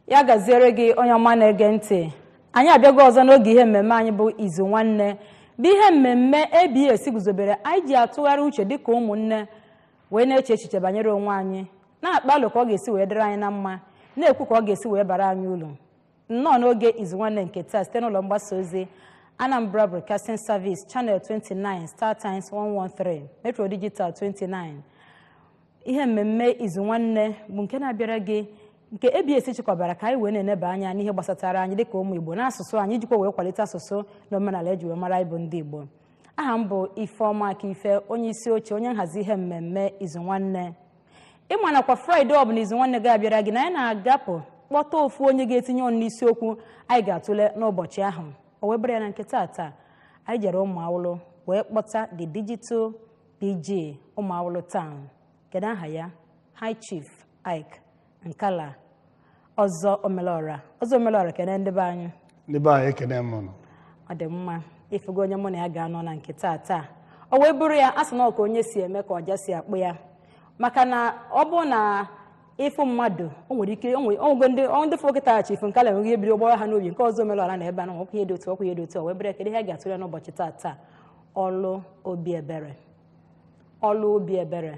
ya gaziere gị onye ọma na-ege ntị anyị abịago ọzọ n'oge ihe mmemme anyị bụ izu nwanne bụ ihe mmemme abs guzobere anyị ji atụgharị uche dịka ụmụnne wee na-eche echiche banyere onwe anyị na-akpa alo ka ọ ga-esi wee dịrị anyị na mma na-ekwu ka ọ ga-esi wee bara anyị uru nnọọ n'oge izu nwanne nke taa site n'ụlọ mgbasa ozi anambra broadcasting service channel 29 star times 113 metro digital 29 ihe mmemme izu nwanne bụ nke na-abịara gị nke ABS chịkọbara ka anyị wee na-eneba anya n'ihe gbasatara anyị dịka ụmụ Igbo n'asụsụ anyị ijikwa wee kwalite asụsụ na omenala eji wee mara ịbụ ndị Igbo aha m bụ Ifeọma Akife onye isi oche onye nhazi ihe mmemme izu nwanne ị ma nakwa fraịde ọ bụla izu nwanne ga-abịara gị na anyị na-agapụ kpọta ofu onye ga-etinye ọnụ n'isiokwu anyị ga-atụle n'ụbọchị ahụ o wee bụrụ ya na nke taata anyị jere Ụmụawụlụ wee kpọta the digital PG Ụmụawụlụ Town kedu aha ya High Chief Ike Nkala ọzọ omelọra ọzọ omelọra kene ndị be anyị ndị be anyị ekene m ụnụ ọ dị mma ị fụgo onye mụ na ya ga-anọ na nke taa taa o wee bụrụ ya a sị na ọ ka onye si eme ka ọja si akpọ ya maka na ọ bụ na ị fụ mmadụ o nwere ike onwego ndị ọ ndị fụrụ kịta Chief Nkala enweghị ebiri ụgbọrọ ha n'obi nke ọzọ omelọra na ebe a na ọkwa ihe dị otu ọkwa ihe dị otu ọ wee bụrụ ya kedu ihe a ga-atụle n'ụbọchị taa taa ọlụ obi ebere ọlụ obi ebere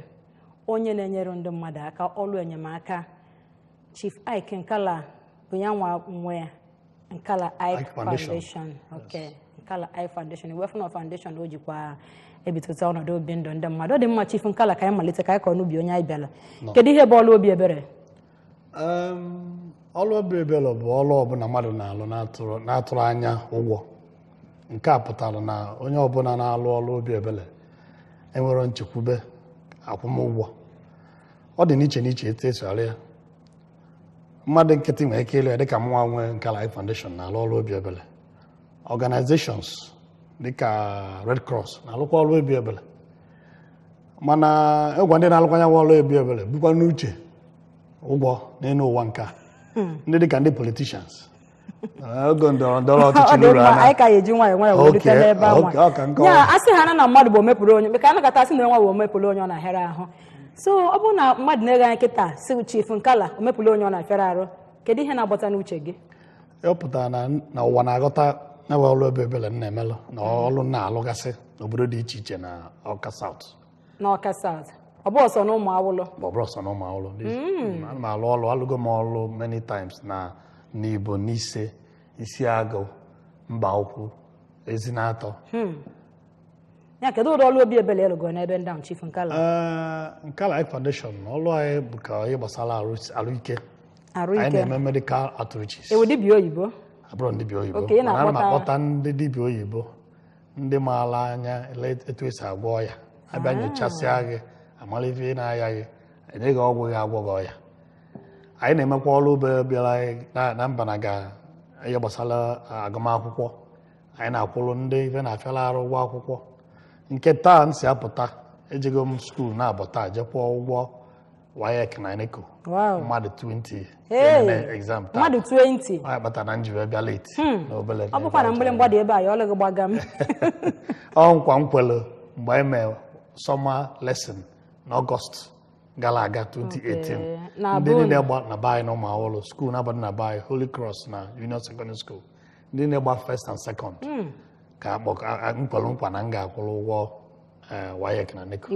onye na-enyere ndị mmadụ aka ọlụ enyemaka chief ike nkala bụ ya nwa nwe nkala ike foundation ok nkala ike foundation ị wee fụ na foundation o jikwa ebitụta ọnọdụ obi ndụ ndị mmadụ ọ dị mma chief nkala ka anyị malite ka anyị kọọ n'ubi onye anyị bịara kedu ihe bụ ọlụ obi ebere ọlụ obi ebele bụ ọlụ ọbụla mmadụ na-alụ na-atụrọ anya ụgwọ nke a pụtara na onye ọbụla na-alụ ọlụ obi ebele enwerọ nchekwube akwụmụgwọ ọ dị n'iche n'iche etu esi arụ ya mmadụ nkịtị nwere ike ịlụ ya dịka mụnwa nwee Nkala Ike Foundation na-alụ ọlụ obi ebele organizations dịka Red Cross na-alụkwa ọlụ obi ebele mana ịgwa ndị na-alụkwa ya ọrụ obi ebere bukwa n'uche ụgwọ n'elu ụwa nke a hmm. ndị dịka ndị politicians oge ndọrọ ndọrọ ọchịchị n'uru ana anyị ka ya-eji nwayọ nwayọ wee rute n'ebe anwa ya asị ha na na mmadụ bụ omepụrụ onye maka anakọta asị na nwa bụ omepụrụ onye ọ na-ahịara ahụ so ọ bụrụ na mmadụ na-ege anyị kịta sị chief nkala omepụrụ onye ọ na-afịara arụ kedu ihe na-agbata n'uche gị ọ pụtara na na ụwa na-aghọta ya bụ ọrụ obi ebele m na-emelụ na ọrụ m na-alụgasị n'obodo dị iche iche na Ọka South n'Ọka South ọ bụrọ sọ na Ụmụawụlụ ma ọ bụrọ sọ na Ụmụawụlụ ana m alụ ọrụ alụgo m ọrụ many times na Nibo Nise Isiagụ Mbaukwu Ezinatọ ya kedu ụdị ọrụ obi ebele ị rụgo n'ebe ndị ahụ chief nkala Ee, Nkala Ike Foundation ọlụ anyị bụ ka ihe gbasara arụ- arụike anyị na-eme medical outreaches ị wụ dibịa oyibo abụrọ m dibịa oyibo Okay, mana ana m akpọta ndị dibịa oyibo ndị maara anya etu esi agwọ ọya abịa nyochasịa gị amara ife na-aya gị enye gị ọgwụ ga-agwọ gị ọya anyị na-emekwa ọrụ obi ebele na- na mba na ga ihe gbasara agụmakwụkwọ anyị na-akwụrụ ndị ife na-afịala arụ ụgwọ akwụkwọ nke taa m si apụta ejego m skuul naabọ taa je kwụọ ụgwọ WAEC na NECO Wow. mmadụ 20 Hey! eme exam taa mmadụ 20 ọ ya kpatara na m ji wee bịa late na obele ọ bụkwa na mgbịrịmgba dị ebe a ya ọ lụghị gbagam ọ nkwa m kwere mgbe anyị mee summer lesson n'ọgọst gara aga 2018 Na be unu. ndị niile gba na be anyị na Ụmụawụlụ skuul naabọ dị na be anyị holy cross na union secondary school ndị na-agba first and second hmm. ka m kwere nkwa na m ga-akwụrụ ụgwọ eh, WAEC na NECO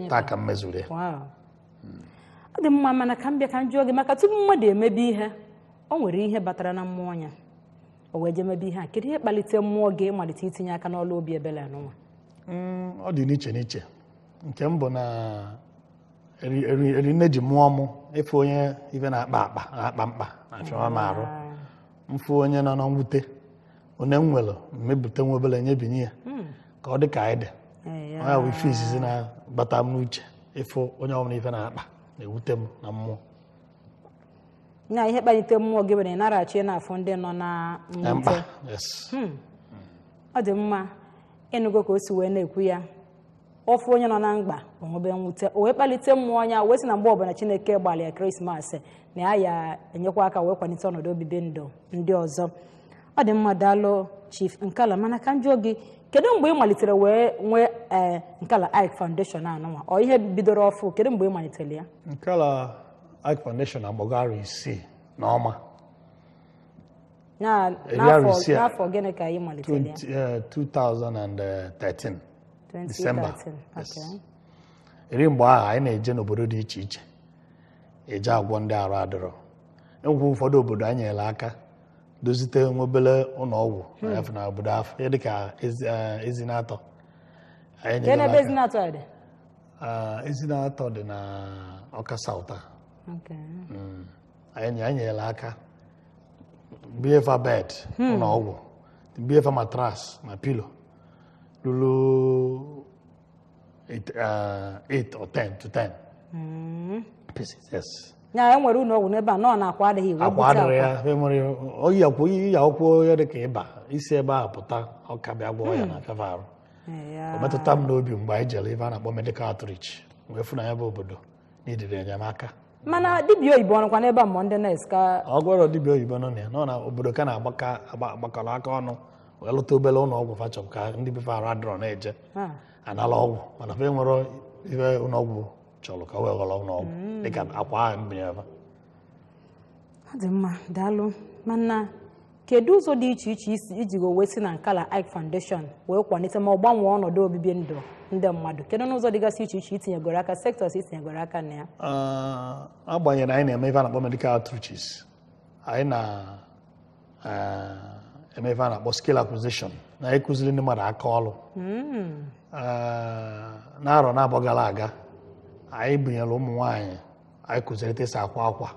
taa ka m mezuru ya hmm. ọ dị mma mana ka m bịa ka m jụọ gị maka tupu mmadụ emebe ihe o nwere ihe batara na mmụọ ya o wee jee mebe ihe a kedu ihe kpalite mmụọ gị ịmalite itinye aka n'ọlụ obi ebele anụnwa hmm, ọ dị n'iche n'iche nke mbụ na eri nne ji mụọ mụ ịfụ onye ife na-akpa mkpa na-achọwa m arụ m fụ onye nọ na mwute onye m nwere m ebute nwa obere nyebinye ya hmm. ka ọ dị ka anyị dị ọ nya bụ ife izizi na-abata m n'uche ịfụ onye ọbụla ife na-akpa na-ewute m na mmụọ na ihe kpalite mmụọ gị mere ị naraghị achọ ịna-afụ ndị nọ na mwute hmm. ọ dị mma ị nụgo ka o si wee na-ekwu ya ọ fụ onye nọ na mkpa o nwebe mwute o wee kpalite mmụọ ya wee sị na mgbe ọbụla chineke gbalị ya krismas na ya ya-enyekwa aka wee kwalite ọnọdụ obibi ndụ ndị ọzọ ọ dị mma daalụ chief nkala mana ka m jụọ gị kedu mgbe ị malitere wee nwee ee nkala ike foundation anụnwa ọ ihe bidoro ọfụụ kedu mgbe ị malitere ya nkala ike foundation agbago arọ isii na ụma n'afọ gịnị ka ị malitere ya 2013 December. 2013. Yes. Okay. eri mgbe ahụ anyị na-eje n'obodo dị iche iche eje agwọ ndị arụ adịrọ e nwekwa ụfọdụ obodo anyị nyere aka dozite nwa obele ụlọ ọgwụ na obodo afụ dịka ezi- eh, Ezinatọ anyị nyere aka. Kee ebe Ezinatọ ya dị? Ah, Ezinatọ dị na Ọka South Okay. anyị anyị nyere aka binye fa bed ụlọ ọgwụ binye fa matras na pilo Lulu, eight, uh, eight or ten to ten pieces, yes. ya e nwere ụlọ ọgwụ n'ebe a na ọ na-akwa adịghị iwe akwa bute adịrị ya enwere oyi akwụ oyi ya akwụkwọ ya dị ka ịba isi ebe ahụ pụta Ọka bịa gwọọ ya na feva arụ Ee, ya. o metụta m n'obi mgbe anyị jere ife a na-akpọ medical outreach wee fụ na ya bụ obodo needịrị enyemaka mana dibịa oyibo nọkwa n'ebe a ma ọ ndị nọọsụ ka ọ gwọrọ dibịa oyibo nọ na ya nọ na obodo ka na-agbaka agba- agbakọrọ aka ọnụ wee lụta obere ụlọ ọgwụ patch up ka ndị be fa arụ adịrọ na-eje ha anala ọgwụ mana fa enwerọ ife ụlọ ọgwụ chọrọ ka wee ghọrọ ụlọ ọgwụ dịka akwa ahụ m bunyere fa ọ dị mma daalụ mana kedu ụzọ dị iche iche i ji wee si na Nkala Ike Foundation wee kwalite ma ọ gbanwee ọnọdụ obibi ndụ ndị mmadụ kedu n'ụzọ dịgasị iche iche i tinyegoro aka sectors i tinyegoro aka na ya agbanyeghị na anyị na-eme ife a na-akpọ medical outreaches anyị na-eme ife a na-akpọ skill acquisition na anyị kụziri ndị mmadụ aka ọrụ hmm. n'arọ naabọ gara aga anyị bunyere ụmụ nwaanyị anyị kụziri etu esi akwa akwa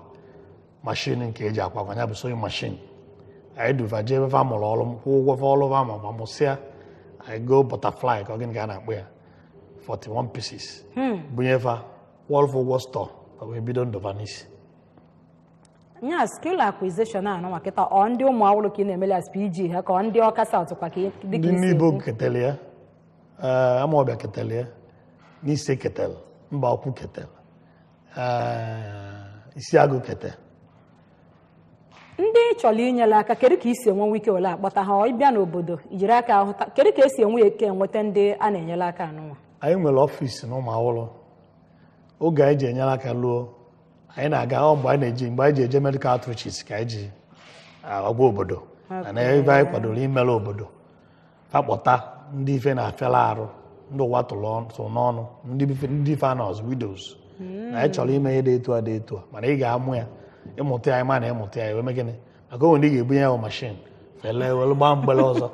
mashin nke eji akwa akwa ya bụ sewing machine anyị du va jee ebe fa mụrụ ọrụ m kwụọ ụgwọ fa ọrụ fa ma mụsịa anyị goo Butterfly ka ọ gịnị ka a na-akpọ ya 41 pieces hmm. bunye fa kwụọlụ fa ụgwọ store ka wee bido ndụ va n'isi nya skill acquisition a nwa kịta ọ ndị Ụmụawụlụ ka ị na-emeli as PG ha ka ọ ndị Ọka South kwa ka dịka Nibo ketele ya eh, Amawbia ketele ya Nise ketele Mbaukwu ketele Isiagụ kete ndị ị chọrọ inyere aka kedu ka i si enwe ike were akpọta ha ị bịa n'obodo ijiri aka ahụta kedu ka esi enwe ike enweta ndị a na-enyere aka anụnwa anyị nwere ọfịs na Ụmụawụlụ oge anyị ji enyere aka luo anyị na-aga ọ mgbe anyị na-eji mgbe anyị ji eje medical outreaches ka anyị ji agwa obodo na ebe anyị kwadoro imere obodo akpọta ndị ife na-afịala arụ ndị ụwa tụrụ n'ọnụ ndị fa nọ as widows na anyị chọrọ ime ihe dị etu a dị etu a mana ị ga-amụ ya ịmụta ya ma na ịmụta ya eme gịnị maka o nwe ndị a ga-ebunye ya mashin fa ele welu gbaa mgbele ọzọ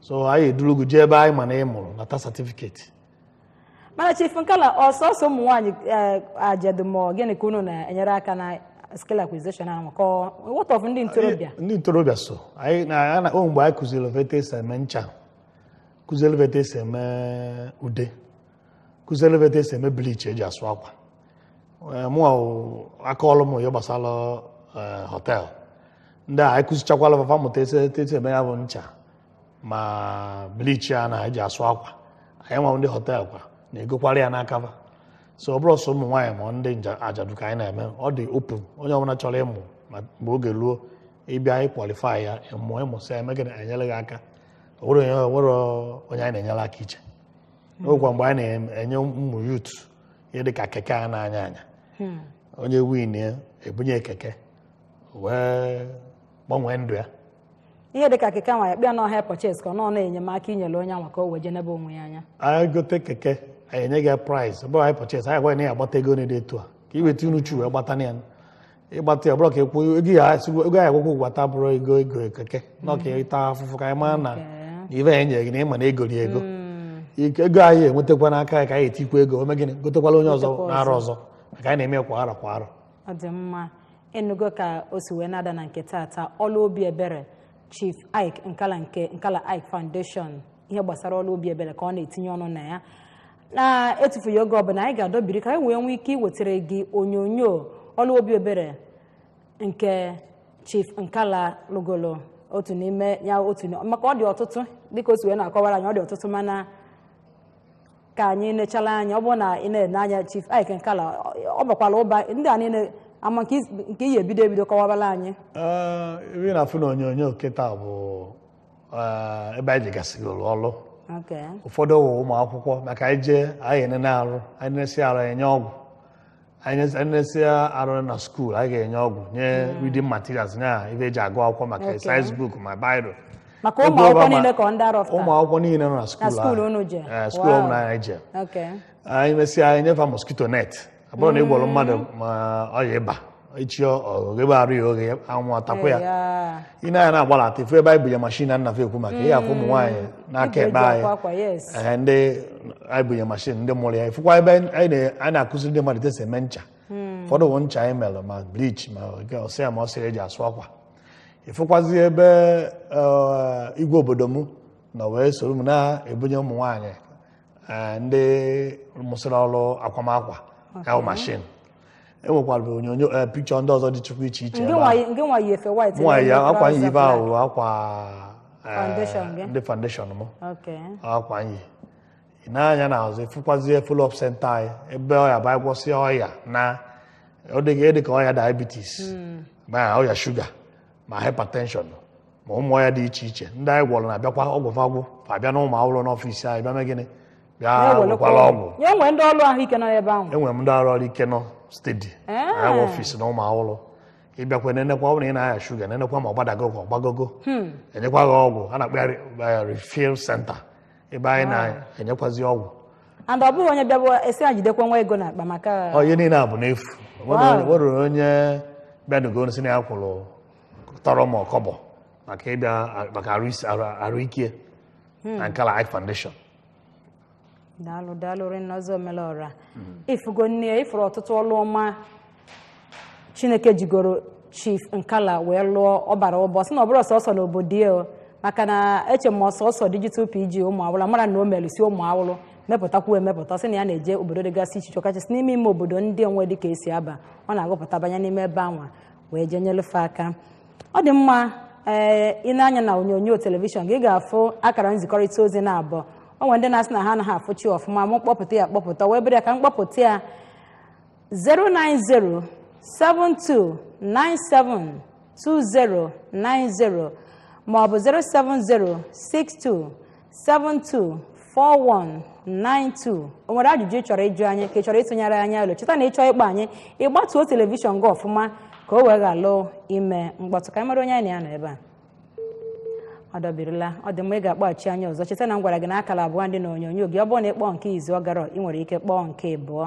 so anyị eduru gị jee ebe anyị ma na ị mụrụ nata certificate mana Chief Nkala ọ sọsọ ụmụ nwaanyị ajadu ma ọ gịnị ka unu na-enyere aka na skill acquisition ahụ ka ọ- what of ndị ntorobịa ndị ntorobịa so anyị na na- o mgbe anyị kụziri va etu esi eme ncha kụziri va etu esi eme ude kụziri va etu esi eme bleach eji asụ akwa Eh, mụ ahụ aka ọrụ ma ihe gbasara eh, họtel ndị a anyị kụzichakwala fa fa mụta esi etu esi eme ya bụ ncha ma bleach a na-eji asụ akwa anyị nwa ndị hotel kwa na-egokwara ya n'aka fa so ọ bụrọ sọ ụmụ nwaanyị ma ndị nja- ajadu ka anyị na-eme ọ dị open onye ọbụla chọrọ ịmụ ma mgbe oge ruo ị bịa anyị qualify ya ịmụ ị mụsịa eme gị enyere gị aka o nwere onye o nwere onye anyị na-enyere aka iche n'okwa mgbe anyị na-enye ụmụ youth ihe dị ka keke a na-anya anya onye win ya ebunye keke wee gbanwee ndụ ya ihe dịka keke nwa ya kịta na hire purchase ka ọ nọ na enyemaka i nyere onye anwa ka o wee je nebe onwe ya anya anyị gote keke anyị enye gị price ọ bụrọ hire purchase anyị gwa na ya agbata ego na-ede etu a ka i weta unuchu wee gbata na ya ị gbata ya ọ bụrụ ka ekwu ego ya akwụkwọ ego ya akwụkwọ gwata bụrụ ego ego keke na ọ ka ị ta afụfụ ka anyị mara na Okay. ive anyị nyere gị na ị ma na e goro ya ego Ike- ego anyị enwetakwa n'aka ya ka anyị etikwa ego o me gịnị gotekwala onye ọzọ Gotekwa ọzọ. n'arọ ọzọ maka anyị na-eme ya kwa arọ kwa arọ ọ dị mma ị nụgo ka o si wee na-ada na nke tata ọlụ obi ebere chief ike nkala nke nkala ike foundation ihe gbasara ọlụ obi ebere ka ọ na-etinye ọnụ na ya na-etufughị oge ọbụla anyị ga-adọbiri ka anyị wee nwee ike iwetara gị onyonyo ọlụ obi ebere nke chief nkala lụgolo otu n'ime ya otu maka ọ dị ọtụtụ dịka o si wee na-akọwara anyị ọ dị ọtụtụ mana ka anyị nechala anya ọ bụrụ na ị na-ene anya chief ike nkala ọ bakwala ụba ndị a niile ama nke is- nke ị ya-ebido ebido kọwabala anyị Ee, ebe ị na-afụ na onyonyo kịta bụ ee, ebe anyị jegasịgoro ọrụ okay ụfọdụ wụ ụmụ akwụkwọ maka anyị jee anyị enene arụ anyị nesịa arụ anyị enye ọgwụ anyị nesịa arụ na school anyị ga-enye ọgwụ nye hmm. reading materials nye ive eji agụ akwụkwọ ma exercise book ma biro maka ụmụ akwụkwọ niile ka ndị arọ ụmụ akwụkwọ niile nọ na school ahụ school eh, ọbụla anyị je anyị mesịa anyị enye fa mosquito net ọ bụrụ na ị gwọrọ mmadụ hmm. ma ọya ịba echi ọ ghebe arụ ya oghe anwụ atakwa ya i nee anya na-agbalata ị fụ ebe anyị bunye mashin a na-ekwu maka ya ị fụ ụmụ nwaanyị n'aka ekpe anyị ee ndị anyị bunye mashin ndị mụrụ ya ifụkwa ebe anyị na-akụziri ndị mmadụ etu e si eme ncha hmm. ụfọdụ bụ ncha anyị mere ma bleach ma ọsị ya ma ọsị eji asụ akwa ị fụkwazi ebe eh, igwe obodo m nọ wee soro m na-ebunye ụmụ nwaanyị eh, ndị mụsịrị ọrụ akwamakwa ya bụ mashin e nwekwara onyonyo eh, picture ndị ọzọ dịchakwu iche iche ebe ahụ. nke nwa yi efe white nwa ya na-eyi akwa anyị trouser ive black. ahụ akwa eh, Foundation gị? ndị foundation m Okay. akwa anyị i nee anya na azụ ị fụkwazie follow-up center anyị ebe ọ ya-abụ anyị gwọsịa ọya na ọ dịghị dị ka ọya diabetes ma ọya shuga ma hypertension ma ụmụ ọya dị iche iche ndị anyị gwọrọ na-abịakwa ọgwụ fa gwụ fa abịa na Umuawulu n'ọfịs anyị bịa mee gịnị bịa wekwara ọgwụ ya enwe ndị ọrụ ahụike nọ n'ebe ahụ enwere m ndị ọrụ ahụike nọ steady ya nwe ọfịs na Umuawulu ị bịakwa nenekwa ọ bụrụ na ị na-aya shuga nenekwa ma ọ gbadago ka ọ gbagogo enyekwa gị ọgwụ a na-akpọ ya re- eh, refill center ebe anyị na-enyekwazi ọgwụ and ọ bụrọ onye bịawa a sị ya jidekwa nwa ego n'akpa maka ihe niile a bụ n'efu nwerọ onye bịanugo sị na ya kwụrụ tọrọ ma ọ kọbọ maka ịbịa maka arụike hmm. na Nkala Eye Foundation daalụ daalụ rinne Ọzọ Omelọra ị fụgonụ ị fụrụ ọtụtụ ọlụ ọma Chineke jigoro Chief Nkala wee lụọ ọ gbara mbọ sị na ọ bụrọ sọsọ na obodo ya o. maka na eche m ọ sọsọ digital PG Umuawulu amarọ na o melusi Umuawulu mepụtakwu emepụta sị na ya na-eje obodo dịgasị iche iche ọkachasị n'ime ime obodo ndị onwe dị ka e si aba ọ na-agụpụta banye n'ime ebe anwa wee jee nyelụ fa aka ọ dị mma ee i nee anya na onyonyo telivishọn gị ga-afụ akara nzikọrịta ozi na abụọ o nwere ndị na-asị na ha anaghị afụcha ọfụma mụ kpọpụta ya akpọpụta wee bere ya ka m kpọpụta ya 09072972090 maọbụ 07062724192 o nwere ajụjụ ị chọrọ ịjụ anyị ka ị chọrọ ịtụnyere anyị alo cheta na ị chọọ ịkpọ anyị ị gbatuo telivishọn gị ọfụma ka o wee ghalụ ime mkpọtụ ka anyị mara onye anyị na ya nọ ebe a ọ dọbirila ọ dị mma ị ga-akpọghachi anyị ọzọ cheta na m gwara gị na akara abụọ dị na onyonyo gị ọ bụrụ na ị kpọọ nke izizi ọ garọ ị nwere ike kpọọ nke abụọ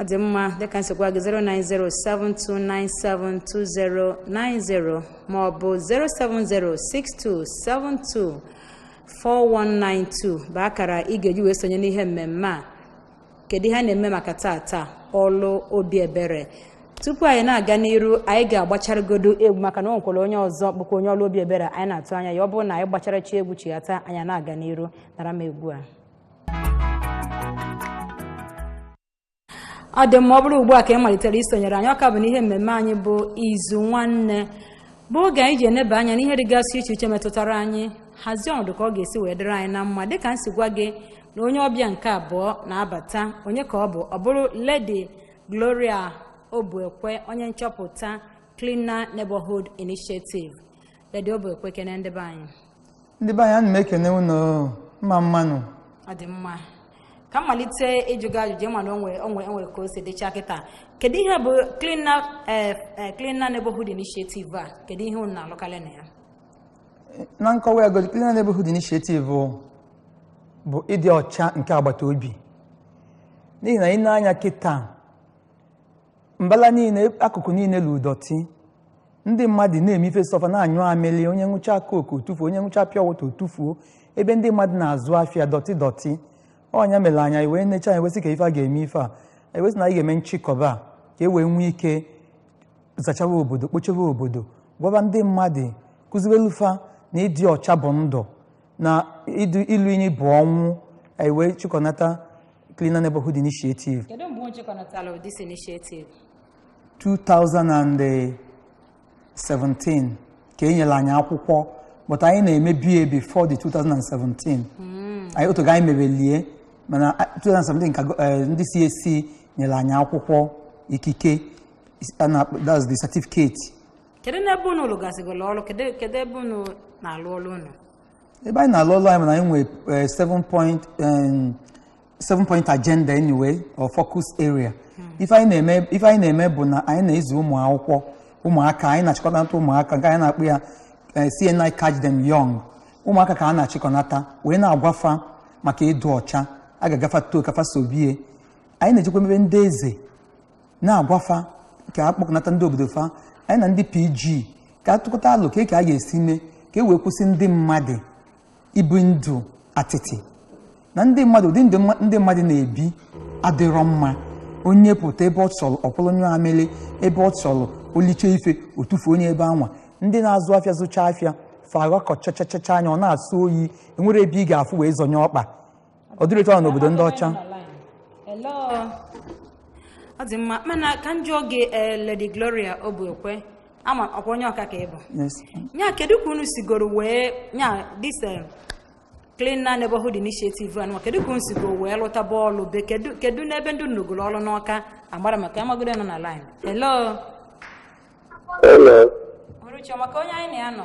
ọ dị mma dịka m si gwa gị 09072972090 ma ọ bụ 07062724192 bụ akara ị ga-eji wee sonye n'ihe mmemme a kedu ihe a na-eme maka taata ọlụ obi ebere tupu anyị na-aga n'iru anyị ga-agbacharagodo egwu maka na o nwekwara onye ọzọ bụkwa onye ọlụ obi ebere anyị na-atụ anya ya ọ bụrụ na anyị gbacharachi egwu chighata anyị na-aga n'iru nara m egwu a ọ dị mma ọ bụrụ ugbu a ka ị malitere isonyere anyị ọ ka bụ n'ihe mmemme anyị bụ Izu Nwanne bụ oge anyị ji eneba anya n'ihe dịgasị iche iche metụtara anyị hazie ọnọdụ ka ọ ga-esi wee dịrị anyị na mma dịka m si gwa gị na onye ọbịa nke abụọ na-abata onye ka ọ bụ ọ bụrụ Lady Gloria Obuekwe onye nchọpụta Cleaner Neighborhood Initiative Lady Obuekwe kene ndị be anyị. Ndị be anyị ana m ekene unu mma mma nụ. Ọ dị mma. Ka m malite ịjụ gị ajụjụ ị ma na o nwe o nwe enwe ka o si dịcha kịta. Kedu ihe bụ Cleaner eh, eh, Cleaner Neighborhood Initiative a? Kedu ihe unu na-alụkarị na ya? Na nkọwa ya godu Cleaner Neighborhood Initiative bụ ịdị ọcha nke agbata obi. N'ihi na i nee anya kịta mbala niile akụkụ niile lu dọtị ndị mmadụ na-eme ife sọ fa na-anyụ amịlị onye ṅụcha coke o tufuo onye ṅụcha pure water o tufuo ebe ndị mmadụ na-azụ afịa dọtị dọtị ọ nya mere anyị wee necha anya wee sị ka ife a ga-eme ife a anyị wee sị na anyị ga-eme nchịkọba a ka e wee nwee ike zachawa obodo kpochebe obodo gwaba ndị mmadụ kụziwelu fa na ịdị ọcha bụ ndụ na idu ilu inyi bụ ọnwụ anyị wee chịkọnata cleaner neighborhood initiative kedu mgbe unu chịkọnatara this initiative 2017 ka e nyere anyị akwụkwọ but anyị na-emebu ya before the 2017 anyị o teego anyị mebelie mana a- 2017 ka go- eh, ndị CAC nyere anyị akwụkwọ ikike is- a na-akpọ- that's the certificate kedu n'ebe unu lụgasịgoro ọrụ kedu kedu ebe unu na-alụ ọrụ unu ebe anyị na-alụ ọrụ anyị bụ na anyị nwere eh, seven point em, seven point agenda anyway or focus area ife anyị na-eme ife anyị na-eme bụ na anyị na-ezi ụmụ akwụkwọ ụmụaka anyị na-achịkọnata ụmụaka nke anyị na-akpọ ya eh, CNI catch them young ụmụaka ka a na-achịkọnata wee na-agwa fa maka ịdị ọcha a ga-agafa too ka fa sobie anyị na-ejekwa ebe ndị eze na-agwa fa ka a kpọkọnata ndị obodo fa anyị na ndị PG ka a tụkọta alo ka ka a ga-esi mee ka e wee kwụsị ndị mmadụ ibi ndụ atịtị na ndị mmadụ ụdị ndị mmadụ na-ebi adịrọ mma onye pụta ebe ọ chọrọ ọ kwụrụ nyụọ amịlị ebe ọ chọrọ o liche ife o tufuo onye ebe anwa ndị na-azụ afịa zụcha afịa fa ghakọchachachacha anya ọ na-asọ oyi enwerọ ebe ị ga-afụ wee zọnye ọkpa ọ dịrọ etu ahụ n'obodo ndị ọcha Hello. ọ dị mma mana ka m jụọ gị eh, Lady Gloria Obuekwe ama ọ kwa onye Ọka ka ị bụ Yes. nya kedu ka unu sigoro wee nya this eh, cleaner neighborhood initiative anụwa kedu ka unu sigoro wee lụtaba ọlụ be kedu kedu n'ebe ndị unu lụgoro ọrụ n'Ọka agbara maka amagodo nọ na line hello Hello. Uruchi, ọ maka onye anyị na ya nọ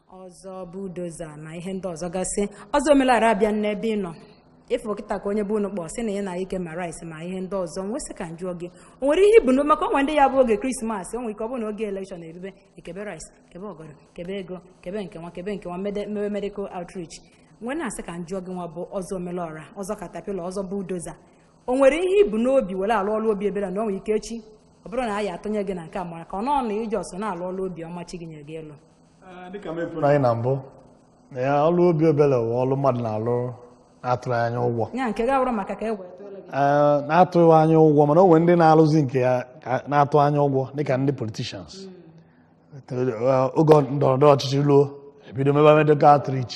Ọzọ Bulldozer na ihe ndị ọzọ gasị Ọzọ Omelọra a bịa n'ebe ị nọ ị fụ kịta ka onye bụ unu kpọ sị na ị na-eke ma rice ma ihe ndị ọzọ m wee sị ka m jụọ gị o nwere ihe i bu maka o nwe ndị ya bụ oge Christmas o nwere ike ọ bụ na oge election erube e kebe rice kebe ọgọdọ kebe ego kebe nke nwa kebe nke nwa mewe medical outreach m wee na-asị ka m jụọ gị nwa bụ Ọzọ Omelọra Ọzọ Caterpillar Ọzọ Bulldozer o nwere ihe i bu n'obi were alụ ọlụ obi ebere na o nwere ike echi ọ bụrụ na a ya-atụnye gị na nke a mara ka ọ bụ na ị just na-alụ ọlụ obi ọma chi gị nyere gị ịlụ dịka m kwuru anyị na mbụ na ya ọlụ obi ebele bụ ọlụ mmadụ na-alụ na-atụrọ anya ụgwọ ya nke ga-abụrụ maka ka e wee na-atụghị anya ụgwọ mana o nwe ndị na-alụzi nke ya na-atụ anya ụgwọ dịka ndị politicians oge ndọrọndọrọ ọchịchị ruo e bido mebe medical outreach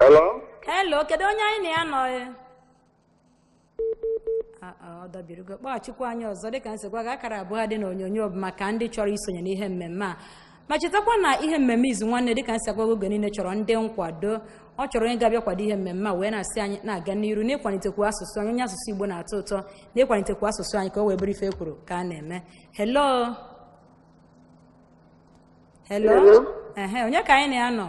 Hello? hello kedu onye anyị na ya nọ e? Ah, ah, ọ dọbirigo kpọghachikwa anyị ọzọ dịka m si gwa gị akara abụọ dị na onyonyo bụ maka ndị chọrọ isonye n'ihe mmemme a ma chetakwa na ihe mmemme izu nwanne dịka m si agwa gị oge niile chọrọ ndị nkwado ọ chọrọ onye ga-abịa kwado ihe mmemme a wee na-asị anyị na-aga n'iru n'ịkwalitekwu asụsụ anyị onye asụsụ igbo na-atọ ụtọ n'ịkwalitekwu asụsụ anyị ka o wee bụrụ ife e kwuru ka a na-eme hello hello Hello? ehe onye ka anyị na ya nọ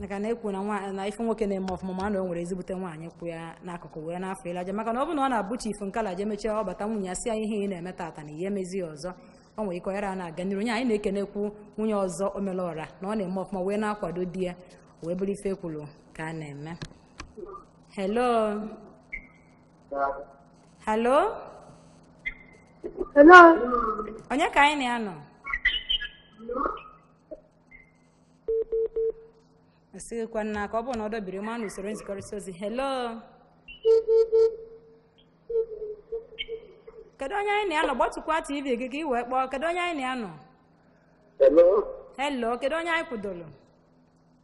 maka na ekwu na ife nwoke na-eme ọfụma ma na o nwere ezigbote nwaanyị kwụ ya n'akụkụ wee n'afọ ịlaja maka na ọ bụ na ọ na-abụ chief nkala je mechie ọ bata nwunye ya sị ya ihe ị na-eme tata na ihe emezi ya ọzọ o nwere ike ọ yara na-aga n'iru onye anyị na-ekenekwu nwunye ọzọ omelọra na ọ na-eme ọfụma wee na-akwado di ya wee bụrụ ife e kwuru ka a na-eme hello halo Hello. onye ka anyị na ya nọ esighịkwa nna ka ọ bụrụ na ọ dọbiri ma na usoro nzikọrịta ozi helo kedu onye anyị na ya nọ gbatukwa tv gị ka i wee kpọọ kedu onye anyị na ya nọ Hello. helo kedu onye anyị kwudoro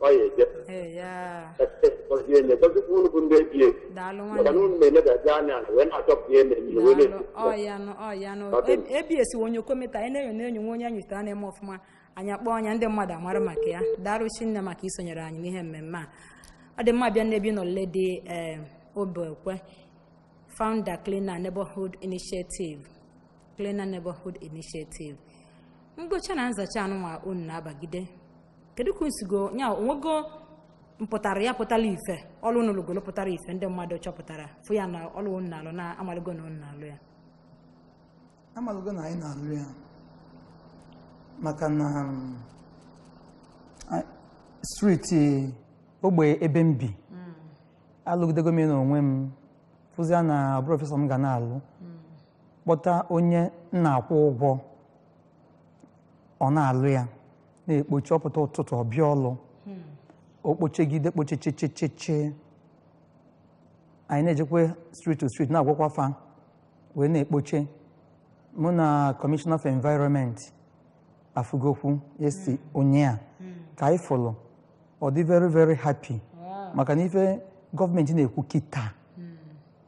ọ ya eje Ee, ya. gọzie enye gọzikwa unu bụ ndị ABS Daalụ maka na nwanne. unu na-eledazi anya ala wee na-achọpụta ihe mere ihe wee Daalụ. na-ebi Ọ ya nụ, ọ ya nụ. Ọ dị mma. E- ABS o onye okometa anyị na-enyo na-enyo nwa onye anyị zutere a na-eme ọfụma anyị akpọ nya ndị mmadụ amara maka ya daalụ chinne maka isonyere anyị n'ihe mmemme a ọ dị mma bịa n'ebe ị nọ lady ee obekwe founder cleaner neighborhood initiative cleaner neighborhood initiative mgbocha na nzacha a nụnwa unu na-abagide kedu ka unu sigo ya o nwego mpụtara ya pụtara ife ọlụ unu lụgolo pụtara ife ndị mmadụ chọpụtara fụ ya na ọlụ unu na-alụ na amaligo na unu na-alụ ya amaligo na anyị na-alụ ya maka na um, a- streeti ogbe ebe m bi alụgidego m ya n'onwe m fụzia na ọ bụrọ ife sọ m ga na-alụ kpọta onye m na-akwụ ụgwọ ọ na-alụ ya na-ekpoche ọ pụta ụtụtụ ọ bịa ọlụ o kpochegide kpochechecheche anyị na-ejekwa street to street na-agwakwa fa wee na-ekpoche mụ na commissioner of environment afụgokwu yes ụnyaa ka anyị fụlụ ọ dị very very happy maka na ife gọọmenti na-ekwu kịta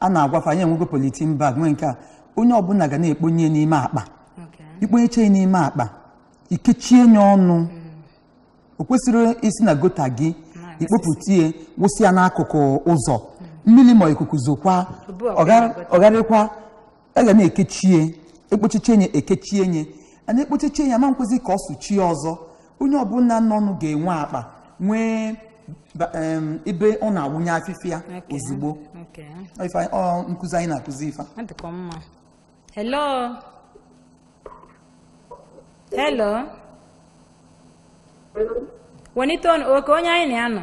a na-agwa fa anyị enwego polythene bag nwee nke a onye ọbụla ga na-ekponye n'ime akpa i kponyeche n'ime akpa i kechie ye ọnụ mm. o kwesịrọ isi na gutter gị i kpopụta ihe wụsị ya n'akụkụ ụzọ mm. mmiri ma ikuku zokwa ọ gharịkwa a ga na-ekechie ekpochiche nye ekechie nye a na-ekpochiche ya ama nkwezi ka ọ sụchie ọzọ onye ọbụla n'ọnụ ga-enwe akpa nwee ba- em, ebe ọ na-awụnye afịfịa Okay. ozugbo Okay. Ọ ife anyị- ọ nkụzi anyị na-akụzi ife Ọ dịkwa mma. Hello. Hello. Welite ọnụ oke onye anyị na ya nọ.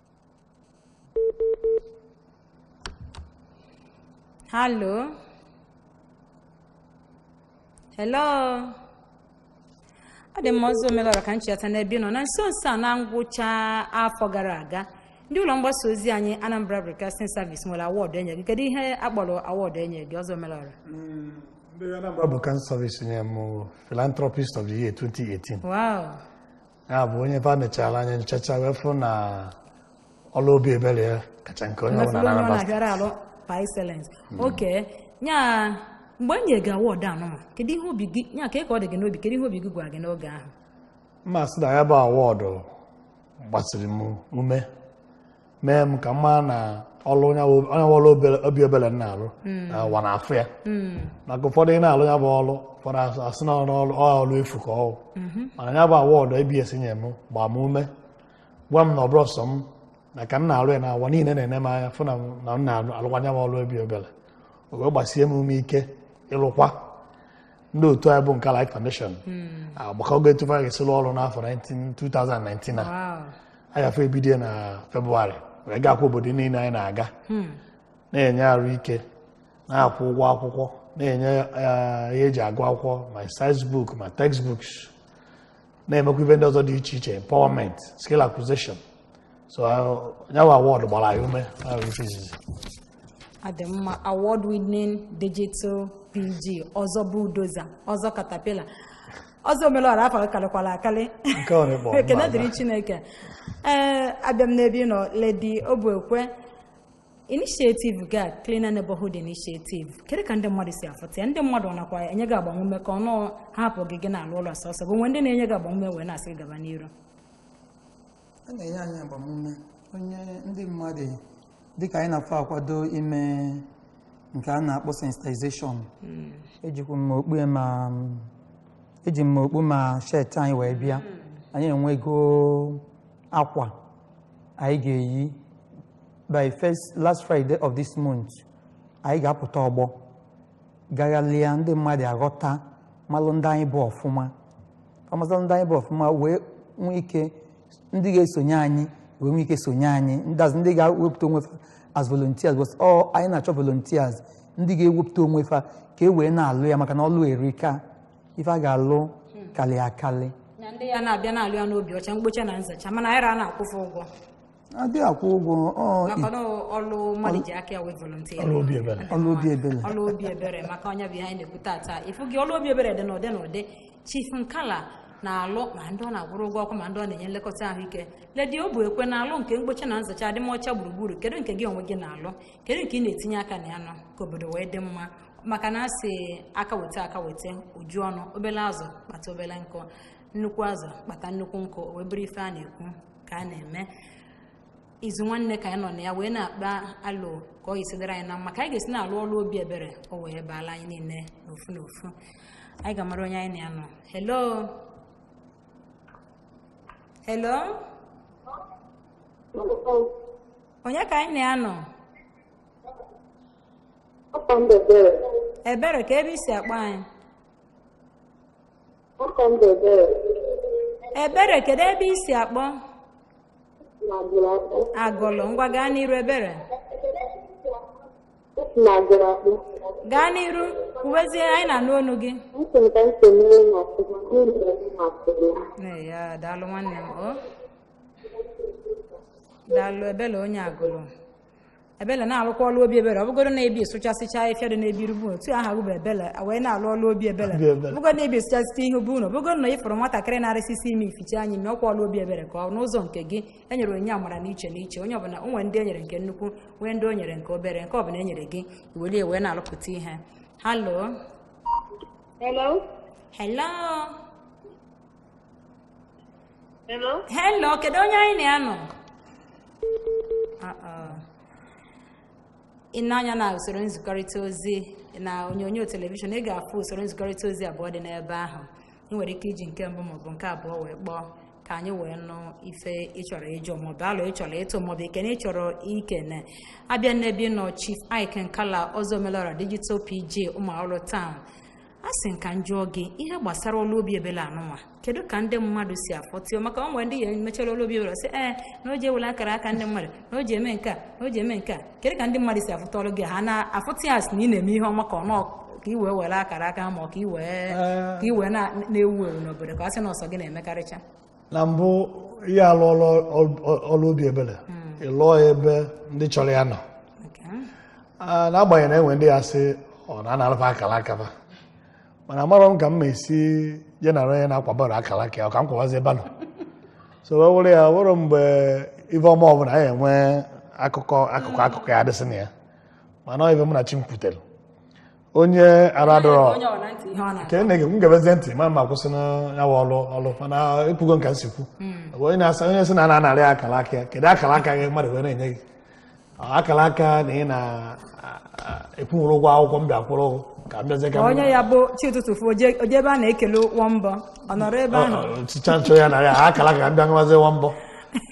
Hello. Hello. ọ dị mma ọzọ omelọra ka m cheta n'ebe ị nọ na nso nso a na ngwụcha afọ gara aga ndị ụlọ mgbasa ozi anyị Anambra Broadcasting Service nwere award enye gị kedu ihe a kpọrọ award enye gị ọzọ omelọra mm, ndị Anambra Broadcasting Service nye m Philanthropist of the Year 2018 wow ya bụ onye fa nechara anya nchacha wee fụ na ọlụ obi ebere ya kacha nke onye ọbụla na Anambra steeti. na-abịara alụ par excellence okay ya mgbe e nyere gị award anụwa kedu ihe obi gị ya ka ka ọ dị gị n'obi kedu ihe obi gị gwara gị n'oge ahụ mma sị na ya bụ award gbasiri m ume mee m ka m mara na ọlụ onye bụ- onye bụ ọlụ obere- obi ebere m na-alụ na ụwa na-afụ ya maka ụfọdụ ị na-alụ ya bụ ọlụ ụfọdụ asị- asị na ọrụ ọlụ- ọ ọlụ efu ka ọ wụ. mana ya bụ award ABS nye m gbaa m ume gwa m na ọ bụrọ sọ m na ka m na-alụ ya na ụwa niile na-ene m anya fụ na m- na m na-alụkwa ya bụ ọlụ obi ebere o wee gbasie m ume ike ịlụkwa ndị otu anyị bụ nke Light Foundation agbakọgo etu fa ga-esi lụọ ọrụ n'afọ 19 2019 a anyị afọ ebido na Febụwarị wee gaakwa obodo niile anyị na-aga na-enye arụ ike na-akwụ ụgwọ akwụkwọ na-enye eh, ihe eji agụ akwụkwọ ma exercise book ma textbooks na-emekwa ife ndị ọzọ dị iche iche empowerment skill acquisition so nya wụ award gbara anyị ume ọ dị mma award winning digital pg ọzọ bulldozer ọzọ caterpillar ọzọ omelọra afa karịkwara akarị ekene dịrị chineke ee abịa m n'ebe ị nọ Lady Obuekwe initiative gị a cleaner neighborhood initiative kedu ka ndị mmadụ si afụta ya ndị mmadụ nakwa enye gị agbamume ka ọnụ hapụ gị gị na-alụ ọlụ sọsọ o nwe ndị na-enye gị agbamume wee na-asị gị gaba n'iru a na-enye anyị agbamume onye ndị mmadụ dịka anyị na fa akwado ime nke a na-akpọ sensitization ejikwa m okpu ya ma eji m okpu ma shirt anyị wee bịa anyị enwego akwa anyị ga-eyi by last Friday of this month anyị ga-apụta ọgbọ gaghalịa ndị mmadụ aghọta malụ ndị anyị bụ ọfụma malụ ndị anyị bụ ọfụma wee nwee ike ndị ga-esonye anyị wee nwee ike sonye anyị ndazi ndị ga-ewepụta onwe fa as volunteers cos anyị na-achọ volunteers ndị ga-ewepụta onwe fa ka e wee na-alụ ya maka na ọlụ erika ife a ga-alụ kalị akalị na ndị ya na-abịa na-alụ ya n'obi ọcha mgbocha na nzacha mana anyị ra na-akwụ fa ụgwọ adị akwụ ụgwọ ọ maka na ọlụ mmadụ ji aka ya wee volunteer Ọlụ obi ebere. ọlụ obi ebere ọlụ obi ebere maka ọ nya bụ ihe anyị na-ekwu tata ịfụgo ọlụ obi ebere dị n'ụdị n'ụdị chief nkala na-alụ ma ndị ọ na-akwụrụ ụgwọ ọkụ ma ndị ọ na-enye nlekọta ahụike Lady Obuekwe na-alụ nke mgbocha na nzacha adịmọcha gburugburu kedu nke gị onwe gị na-alụ kedu nke ị na-etinye aka na ya nọ ka obodo wee dị mma maka na a sị aka weta aka weta o ju ọnụ obele azụ kpata obele nkụ nnukwu azụ kpata nnukwu nkụ o wee bụrụ ife a na-ekwu ka a na-eme izu nwanne ka anyị nọ na ya wee na-akpa alo ka ọ ga-esi dịrị anyị na mma ka anyị ga-esi na-alụ ọlụ obi ebere o wee baala anyị niile n'ofu n'ofu anyị ga-amara onye anyị na ya nọ hello hello onye ka anyị na ya nọ ebere ka ebe i si akpọ anyị Afa m bụ Ebere ebere kedu ebe i si akpọ na Agụlụ akpọ. agụlụ ngwa gaa n'iru ebere Esi m Agụlụ akpọ. gaa n'iru kwuwezie anyị na-anụ onu gị Ntị m ka ntị m n'ihi na ọkụkọ n'ihi na m masịrị ya. Ee, ya daalụ nwanne m o daalụ ebele onye agụlụ ebele na-alụkwa ọlụ obi ebere ọ bụgodu na ị bịa sụchasịcha ahịfịa dị n'ebe iru be unu aha bụ ebele wee na-alụ ọlụ obi ebere ọ bụgodu na ị bịa sụchasịcha iru be unu ọ bụgodu na ịfụrụ nwatakịrị na-arịsịsị imi i fichaa ya imi ọkwa ọlụ obi ebere ka ọ n'ụzọ nke gị e nyere onye amara n'iche n'iche onye ọbụla o nwere ndị e nyere nke nnukwu nwee ndị o nyere nke obere nke ọbụla e nyere gị i welie wee na-alụpụta ihe hello hello Hello? Hello, kedu onye anyị na ya nọ? I nee anya na usoro nzikọrịta ozi na onyonyo telivishọn ị ga-afụ usoro nzikọrịta ozi abụọ dị n'ebe ahụ ị nwere ike iji nke mbụ maọbụ nke abụọ wee kpọọ ka anyị wee nụ ife ịchọrọ ịjụ maọbụ alo ịchọrọ ịtụ maọbụ ekene ịchọrọ ikene a bịa n'ebe ị nọ Chief Ike Nkala Ọzọ Omelọra digital PG Ụmụawụlụ town a sị m ka m jụọ gị ihe gbasara ọlụ obi ebele anụnwa kedu ka ndị mmadụ si afụta ya maka ọ nwere ndị ya emechara ọlụ obi ebele sị ee na o ji ewele akara aka ndị mmadụ na o ji eme nke a na o ji eme nke a kedu ka ndị mmadụ si afụta ọlụ gị ha na-afụta ya sị na ị na-eme ihe ọma ka ọ na ọ ka i wee were akara aka ma ọ ka i wee ka i wee na- na-ewu ewu n'obodo ka a sị na ọ sọ gị na-emekarịcha na mbụ ị ya-alụ ọlụ obi ebere hmm. ị lụọ ya ebe ndị chọrọ ya nọ ah, n'agbanyeghị na enwe ndị ya sị ọ na-analụ ba akara aka ba mana amarọ m ka m ma esi je nara onye na-akwabara akara aka ya ka m kwabazi ebe nọ so wee were ya wụrụ mgbe ife ọma ọbụla a ya-enwe akụkọ akụkọ akụkọ ya adịsị na ya mana ife m na chi m kwutere onye aradọrọ onye ọ na ntị ihe ọ na ka ene m gebezie ntị ma ma kwụsị na ya bụ ọlụ ọlụ mana ekwugo m ka m si kwu onye na-asa onye sị na a na-anarị akara aka ya kedu akara aka ji mmadụ wee na-enye gị Ọ, akara aka na ị na-akwụnwurọ ụgwọ akwụkwọ m bịa kwụrụ ụgwọ ka m bịazie ka m onye ya bụ chi ụtụtụ fo o je o je ebe a na-ekele ụgwọ mbọ ọ nọrọ ebe ahụ ọchịcha nchọ ya na ya akara aka ka m bịa nwazi nwa mbọ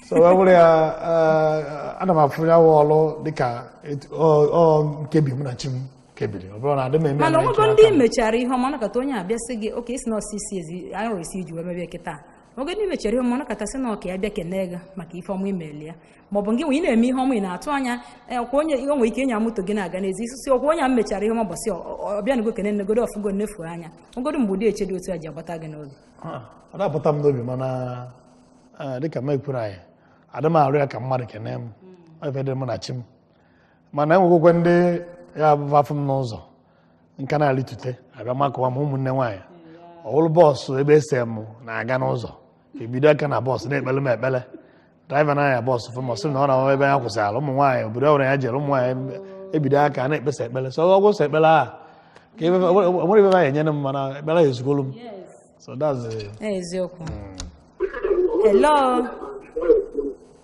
so wee bụrụ ya eh, ana m afụ ya wụ ọlụ dịka etu- ọ ọ nkebi mụ na chi m kebiri ọ bụrụ na adị m eme mana onwego ndị mechara ihe ọma nakọta onye abịa sị gị oke isi na ọsisi ezi anyị nwere isi iji wee mebie kịta oge ndị mechara ihe ọma nakọta sị na ọka ya bịa kelee gị maka ife ọma i melụ ya ma ọ bụ gị nwe ị na-eme ihe ọma ị na-atụ anya eh, ọkwa onye o nwere ike ịnya moto gị na-aga n'ezi ị sị ọkwa onye a mechara ihe ọma bọsị ọbịanụgo kene m negodo ọ fụgo m nefu anya ogodo mgbe ụdị echiche dị otu a ji abata gị n'obi ah, ọ na-abata m n'obi mana ah, dịka m ekwuru anyị adị m arụ ya ka mmadụ kene m hmm. ife dị mụ na chi m mana enwegokwa ndị ya-abụ ba afụ m n'ụzọ m ka na-alitute abịa makụwa m ụmụnne nwaanyị ọ wụrụ bọọsụ ebe ese m na-aga n'ụzọ ebido aka na bọọsụ na-ekpele m ekpele draiva na-anya bọọsụ fụ m ọ sị na ọ na ebe ya kwụsịrị ụmụ nwaanyị obodo ọbụla ya jere ụmụ nwaanyị ebido aka na-ekpesa ekpele so ọ wụ sọ ekpele a ka onwere ibe ya enyere m mana ekpele ya ezugolu m so that's eziokwu hmm. hello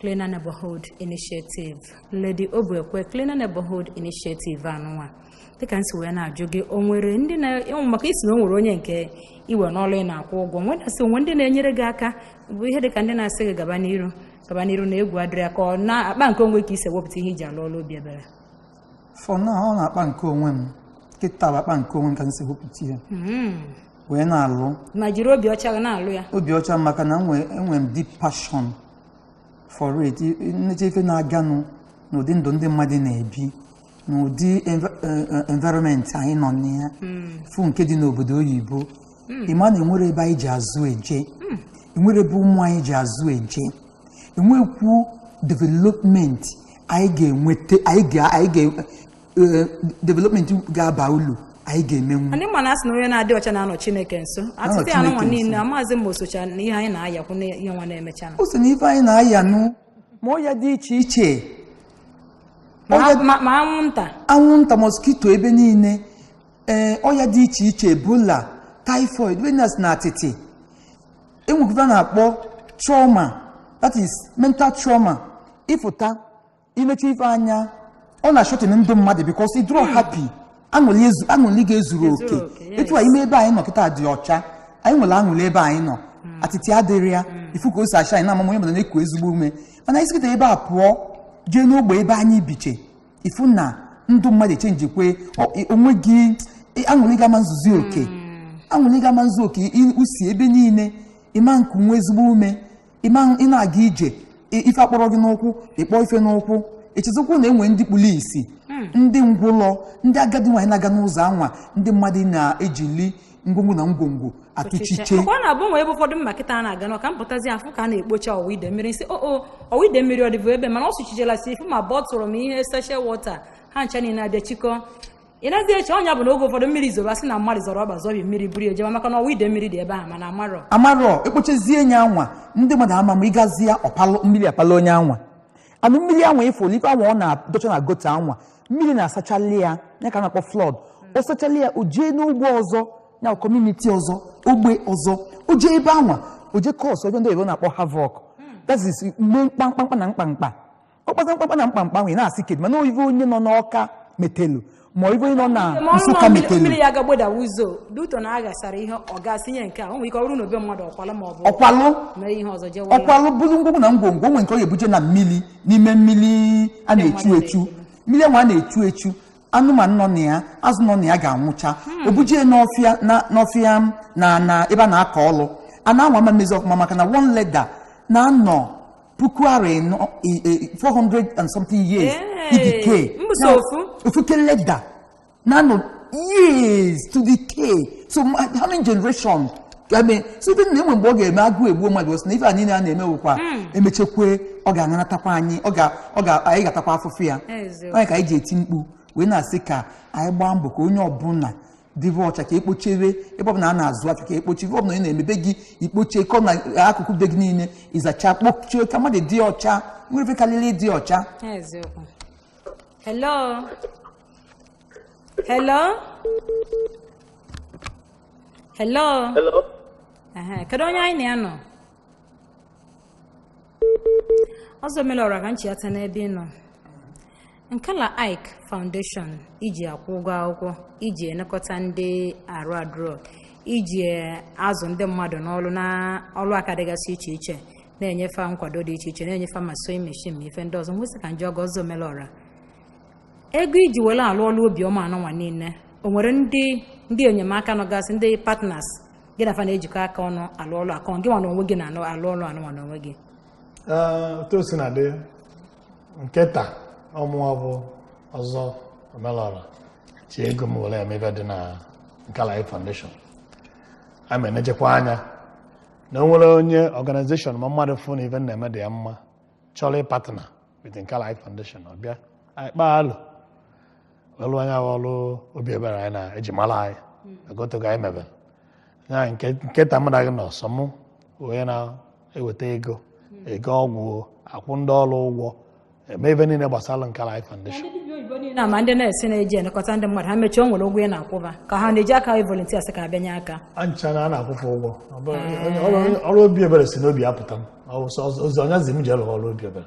Cleaner Neighborhood Initiative Lady Obuekwe Cleaner Neighborhood Initiative a nụnwa dịka m si wee na-ajụ gị o nwere ndị na-enwe maka ị sị na o nwere onye nke i we n'ọlụ ị na-akwụ ụgwọ m wee na-asị o nwe ndị na-enyere gị aka bụ ihe dịka ndị na-asị gị gaba n'iru gaba n'iru na egwu adịrọ ya ka ọ n'akpa nke onwe ka i si ewepụta ihe i ji alụ ọlụ obi ebere for now ọ n'akpa nke onwe m kịta bụ akpa nke onwe m ka m si wepụta ihe wee na-alụ ma jiri obi ọcha eji na-alụ ya obi ọcha maka na enwe enwe m deep passion for it m necha ife na-aganụ n'ụdị ndụ ndị mmadụ na-ebi n'ụdị env- eh, eh, environment anyị nọ na ya fụ nke dị n'obodo oyibo ị ma na enwere ebe anyị ji azụ eje enwere ebe ụmụ anyị ji azụ eje enwekwu development anyị ga-enweta anyị ga- anyị ga- eh, development ga-aba ulu anyị ga-emenwu anyị ma na a sị na onye na-adị ọcha na-anọ chineke nso atịtị a anụnwa niile amaazị ma o socha na ihe anyị na-ayakwu na ihe nwa na-emecha o so na ife anyị na-aya nụ ma ọya dị iche iche ma anwụnta anwụnta moskito ebe niile ee eh, ọya dị iche iche ebola typhoid venus na atịtị e nwekwara na-akpọ trauma that is mental trauma ị fụta i necha ife anya ọ na-ashorten ndụ mmadụ because ị dịrọ happy aṅụli gị ezurọ oke etu a ime ebe anyị nọ kịta dị ọcha anyị nwere aṅụli ebe anyị nọ hmm. atịtị adịrọ ya hmm. ị fụ ka o si acha anyị na-amam onye mana na-eku ezigbo ume mana anyị si kịta ebe a pụọ jee n'ogbe ebe anyị biche ị fụ na ndụ mmadụ echenjikwe onwe gị aṅụli gị ama nzuzi oke hmm. aṅụli gị ama nzu oke usi ebe niile ị ma nkunwu ezigbo ume ị na-aga ije ife akpọrọ gị n'ụkwụ ị kpọ ife n'ụkwụ echezikwu na e nwe ndị kpuru isi hmm. ndị ngwụlọ ndị agadi nwaanyị na-aga n'ụzọ anwa ndị mmadụ na-ejili ngwongwo na ngwongwo atụchiche ọ na-abụ e nwe ebe ụfọdụ m ma kịta na-aga n'Ọka m pụtazie afụ ka a na-ekpocha ọwa ide mmiri m sị o oh, oh, ọwa ide mmiri ọ dịbụ ebe a mana ọ sụchichela si ị fụ ma bottle ma ihe sachet water ha ncha niile abịa chikọọ ị nazi eche ọ nya bụ na oge ụfọdụ mmiri zoro a sị na mmadụ zọrọ ọba zọbi mmiri buru ya jewe maka na ọwa ide mmiri dị ebe ahụ mana amarọ amarọ e kpochizie nye anwa ndị mmadụ ama ma ị gazie ya ọpalụ mmiri apalụ onye anwa and mmiri anwa ị fụlụ ife anwa ọ na-adọcha na gutter anwa mmiri na-asachali ya ya ka a na-akpọ flood ọ sachali ya o jee n'ugbo ọzọ ya community ọzọ ogbe ọzọ o jee ebe anwa o jee cause ife ndị oyibo na-akpọ havoc that is mee mkpamkpamkpa na mkpamkpa ọ kpata mkpamkpa na mkpamkpa m wee na-asị kedu mana ọ ive onye nọ n'Ọka metelu ma ọ ive onye nọ na Ma ọrụ Nsụka ma mmiri- metelu mmiri ya ga gboda ụzọ due to na a gasara ihe ọ gasị ihe nke a o nwere ike ọ bụrụ na obe mmadụ ọkwala ma ọ bụ ọkwalụ mee ihe ọzọ jewe ụlọ. ọ kwalụ buru ngwongwo na ngwongwo o nwe nke ọ ga-ebuje na mmiri n'ime mmiri a na-echu echu mmiri anwa a na-echu echu anụmanụ nọ na ya azụ nọ na ya ga-anwụcha o buje n'ọfịa na- n'ọfịa m na na ebe a na-akọ ọlụ ana anwa ama mmezi ọfụma maka na one leda na-anọ puku arọ ịnọ i- i- 400 and something years Hey, i-decay mbụ so ofu. ofuke leda na-anọ years to decay so ma- how many generation I mean, so even na e nwe mgbe ọ ga-eme agụụ egbuo mmadụ o si na ife a niile a na-eme wụkwa emechekwe ọ ga-aṅanatakwa anyị ọ ga- ọ ga- anyị ga-atakwa afụfụ ya Eziokwu. ọ nya ka anyị ji eti mkpu wee na-asị ka anyị gbaa mbọ ka onye ọbụla dịbe ọcha ka e kpochaa ebe ọbụla a na-azụ afịa ka e kpochaa ebe ọbụla ị nọ ime be gị i kpochaa corner akụkụ be gị niile ị zacha kpochaa ka mmadụ dị ọcha o nwerọ ife karịrị ịdị ọcha hello hello hello kedu onye anyị na ya nọ Ọzọ Omelọra ka m chiata n'ebe ị nọ nkala ike foundation i ji akwụ ụgwọ akwụkwọ i ji elekọta ndị arụ adụrọ i ji azụ ndị mmadụ n'ọrụ na ọrụ aka dịgasị iche iche na-enye fa nkwado dị iche iche na-enye fa ma sewing machine ma ife ndị ọzọ m wee sị ka m jụọ gị Ọzọ Omelọra ego i ji were alụ ọrụ obiọma anụnwa niile o nwere ndị ndị enyemaka nọgasị ndị partners gị na fa na-ejikọ aka ọnụ alụ ọlụ a ka ọ gị nwa na onwe gị na-alụ alụ ọlụ anụnwa na onwe gị Ee, otu o si na dị nketa ọ mụwa bụ ọzọ omelọra ji ego m were eme ife dị na Nkala Ike Foundation a ma enejekwa anya na o nwere onye organization ma mmadụ fụ na ife m na-eme dị ya mma chọrọ ịpartner with Nkala Ike Foundation ọ bịa anyị kpaa alo ọlụ anyị ahụ ọlụ obi ebere anyị na eji mara anyị agotogo anyị mebere ya nke nketa mụ na gị nọ sọ mụ onye na-eweta ego ego ọgwụ akwụ ndị ọrụ ụgwọ eme ife niile gbasara Nkala Ike Foundation ndị dibịa oyibo niile na ma ndị nurse ị na-eji elekọta ndị mmadụ ha mechie o nwere ụgwọ ị na-akwụ fa ka ha na-eji aka anyị volunteers ka abịanye aka ancha na a na-akwụ fa ụgwọ Ọ bụrụ- onye- ọrụ- ọrụ obi ebere si n'obi apụta m Ọ bụ sọ- ozi onye zi m ji alụ ọrụ obi ebere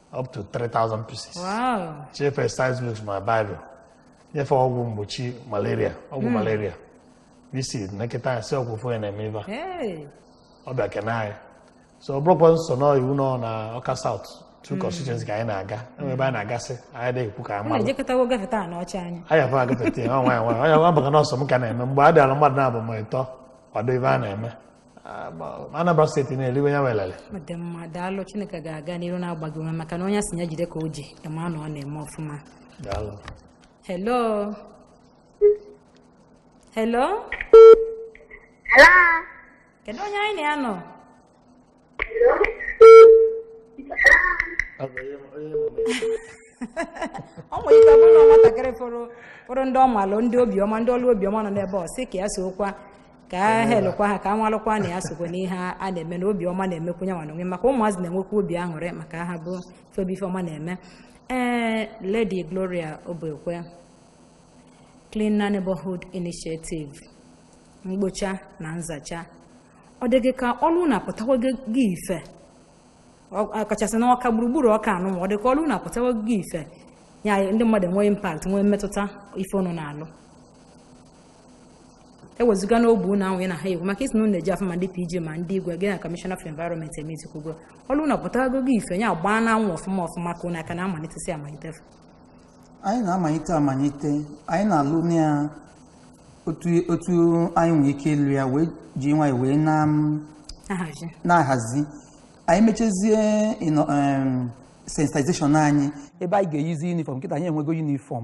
up to 3,000 pieces. Wow. Chief exercise books ma Bible. Nye fa ọgwụ mgbochi malaria, ọgwụ hmm. malaria. Bisi nekịta asị ọgwụ fụ ya na-eme ife. Ọ bịa kene anyị. So ọ bụrọkwa sọ na iwu nọ na Ọka South. Two hmm. constituency ka anyị na-aga. Enwe ebe a na-agasị, anyị adị ekwu ka a ma. Anyị ejekọtawo gafeta Anaocha anyị. Anyị afọ agafeta ya, ọ nwa ya nwa. Onye abụghị nọọsụ m ka na-eme. Mgbe a bịara mmadụ naabọ ma ịtọ, kwado ife a na-eme. Anambra steeti na-eriwe ya elele ọ dị mma daalụ chineke ga-aga n'iru na-agba gị ume maka na onye a sị ya jide ka o ji ya ma na ọ na-eme ọfụma daalụ hello hello Hello. kedu onye anyị na ya nọ ọ nwere ike ọ bụrụ na nwatakịrị fụrụ ndị ọmalụ ndị obiọma ndị ọrụ obiọma nọ n'ebe ọ sị ka ya sokwa ka a helụkwa ha ka a nwalụkwa na ya sokwa n'ihe a na-eme na obi ọma na-emekwu ya nwa n'onwe maka ụmụazị na-enwekwa obi aṅụrị ma ha fụ ebe ife ọma na-eme ee Lady Gloria Obekwe Cleaner Neighborhood Initiative mgbocha na nzacha ọ dị gị ka ọlụ unu apụtawago ife ọkachasị n'ọka gburugburu ọka anụnwa ọ dị ka ọlụ unu apụtawago ife ya ndị mmadụ enwee impact nwee mmetụta ife unu na-alụ ewezụga n'ogbe ụlọ ahụ ya na ha ekwu maka ị sị na unu eje afụ ma ndị PG ma ndị igwe gị na Commissioner for Environment emezikwugo ọrụ unu ọ pụtago ife ya gbaa n'anwụ ọfụma ọfụma ka unu aka na-amalitesi amalite anyị na-amalite amalite anyị na-alụ na ya otu anyị nwere ike ịlụ ya wee ji nwayọ wee na-ahazi anyị mechazie sensitization anyị ebe anyị ga-eyizi yunifọm kịta anyị enwego yunifọm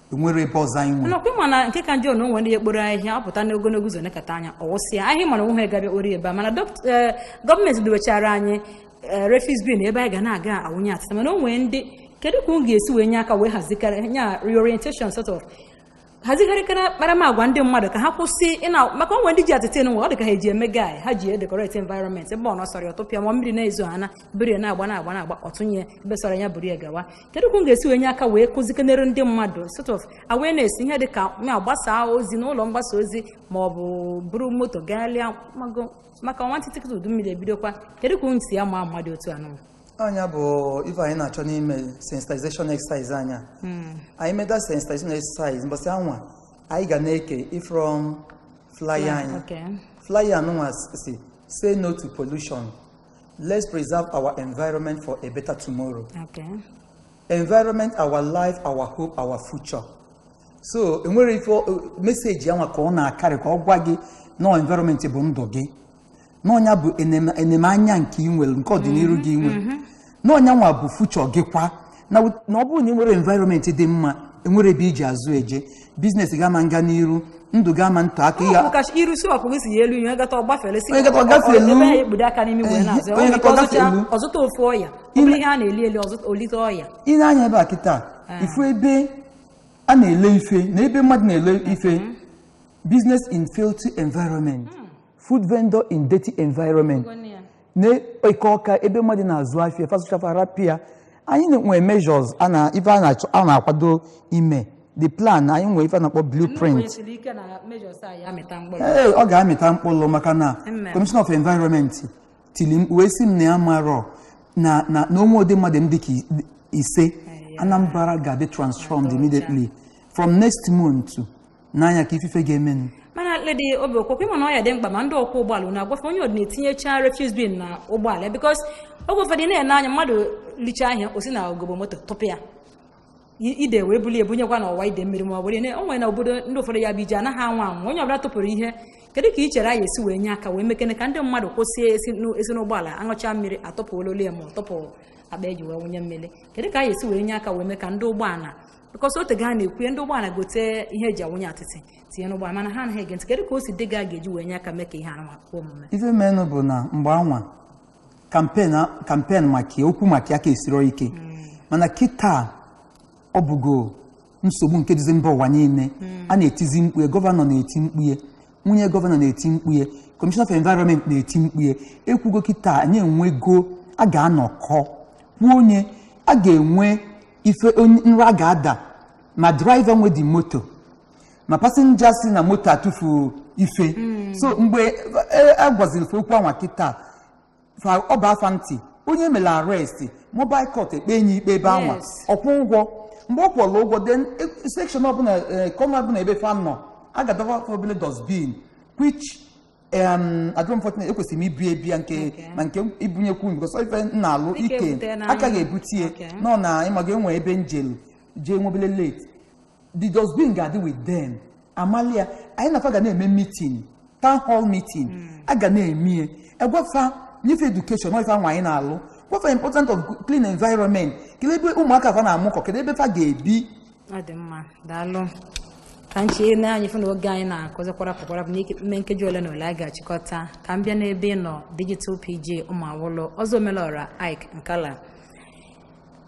enwere ebe ọzọ anyị nwere nakwa ị ma na nke ka njọ na o nwee ndị ekporo ahịhịa ọ pụta n'ogologo ụzọ nekata anya ọ wụsịa ahịhịa mara onwe ha ga-abịa kporo ebe a mana dọkt- eh, gọọmenti dowechara anyị eh, refuse bin ebe anyị ga na-aga awụnye atịtị mana o nwee ndị kedu ka unu ga-esi wee nye aka wee hazikarị nya reorientation sort of hazigharịkara akparamagwa ndị mmadụ ka ha kwụsị ịna maka o nwee ndị ji atịtị anwa ọ dị ka ha eji eme gai ha ji edekoreti environment ebe ọ nọ sọrọ ya ọ tụpịa ma mmiri na-ezo ha na biri na-agba na-agba na-agba ọ tụnye ebe sọrọ ya buru ya gawa kedu ka unu ga-esi wee nye aka wee kụzikenere ndị mmadụ sort of awareness ihe dị ka ya gbasaa ozi n'ụlọ mgbasa ozi ma ọ bụ buru moto gaalịa mago maka nwantịtị kịta udu mmiri ebidokwa kedu ka unu si ama mmadụ otu anụwa ọ nya bụ ife anyị na-achọ n'ime sensitization exercise anyị a anyị meda sensitization exercise mbọsị anwa anyị ga na-eke ifrom flyer anyị okay flyer anụnwa sị say no to pollution Let's preserve our environment for a better tomorrow. Okay. Environment, our life, our hope, our future. So, enwere ife meseji anwa ka ọ na-akarị ka ọ gwa gị na environment bụ ndụ gị na ọ nya bụ enemanya nke i nwere nke ọdịnihu gị i nwe mm-hmm. na ọ nyanwa bụ future gị kwa na ọ bụrụ na ị nwerọ environment dị mma e nwerọ ebe i ji azụ eje biznes gị ama nga n'iru ndụ gị ama ntọ aka ya kacha iru si ọkụ si ya elu ihe gata ọ gbafere isi onye gata ọ gafeelu ebe ya ekpudo aka n'imi wee na-azụ onye gata ọ gafeelu ọ zụta ofu ọya ọ bụrụ ihe a na-eli eli ọ zụta o lite ọya ị nee anya ebe a kịta eh. ị fụ ebe a na-ele ife na ebe mmadụ na-ele mm-hmm. ife business in filthy environment hmm. food vendor in dirty environment n'Eke Ọka ebe mmadụ na-azụ afịa fa zụcha fa rapụ ya anyị nwee measures a na ife a na-achọ a na-akwado ime the plan anyị nwee ife a na-akpọ blueprint Nwesiri ike na measures a ya-amịta mkpụrụ. ee ọ ga-amịta mkpụrụ maka na Amen. commission of environment tili mkpu wee sị m na ya marọ na na na o nwe ụdị mmadụ m dịka i- ise Anambra ga-adị transformed immediately from next month n'anya ka ifufe ga-emenụ mana Ledi Obi okwokwe ị ma na ọ ya-adị mkpa ma ndị ọkwọ ụgbọala unu agwa fa onye ọbụna etinyecha refuse bin na ụgbọala bikos oge ụfọdụ ị na-ene anya mmadụ licha ihe a o si na ogobo moto tụpụ ya I- ide wee buli ebunyekwa na ọwa ide mmiri ma ọ bụrụ ihe o nwere na obodo ndị ụfọdụ ya bụ ihe anaghị anwa anwa onye ọbụla tụpụrụ ihe kedu ka i chere anyị esi wee nye aka wee mekene ka ndị mmadụ kwụsị esi n'ụ- esi n'ụgbọala aṅụcha mmiri atụpụ ololo ya ma ọ tụpụ akpa eji wee wụnye mmiri kedu ka anyị esi wee nye aka wee mee ka ndị ụgbọala because ọ tego a na-ekwu ya ndị ụgbọala gote ihe eji awụnye atịtị tinye n'ụgbọala mana ha anaghị ege ntị kedu ka o si dị gị a ga-eji wee nye aka mee ka ihe a na-akpọ omume ife menụ bụ na mgbe anwa campaign maka ya okwu maka ya ka esiro ike mana kịta ọ bụgo nsogbu nke dịzi mba ụwa niile a na-etizi mkpu ya gọvanọ na-eti mkpu ya nwunye gọvanọ na-eti mkpu ya commissioner of environment na-eti mkpu ya ekwugo kịta anyị enwego a ga-anọkọ kwuo onye a ga-enwe ife nra ga-ada ma driver nwe the moto ma passenger si na moto atụfu ife so mgbe e- a gwaziri fa okwu anwa kịta ọ baa fa ntị onye mere arrest mobile court ekpee onye ikpe ebe anwa Yes. ọ kwụọ ụgwọ mgbe ọ kwụọla ụgwọ then section ọbụla corner ọbụla ebe fa nọ a ga-adọba fa obele dustbin which em unfortunately ekwesịrị m ibu ya bịa nke Okay. ma nke ibunyekwu unu because ife m na-alụ Ị ike ga-ebute ya n'anya. a ka ga-ebute ya Okay. nọ na ịmaga enwe ebe m jelu jee nwebele late the dustbin ga-adị with them amalia anyị na fa ga na-eme meeting town hall meeting a ga na-eme ya a gwa fa nye fa education ọ ife anwa anyị na-alụ gwa fa important of clean environment kedu ebe ụmụaka fa na-amụkọ kedu ebe fa ga-ebi ọ dị mma daalụ ka m chee na anyị fụ na oge anyị na-akụzi kwarapụ kwarapụ n'ime nkeji ole na ole a ga-achịkọta ka m bịa n'ebe ị nọ digital PG Ụmụawụlụ ọzọ omelọra ik nkala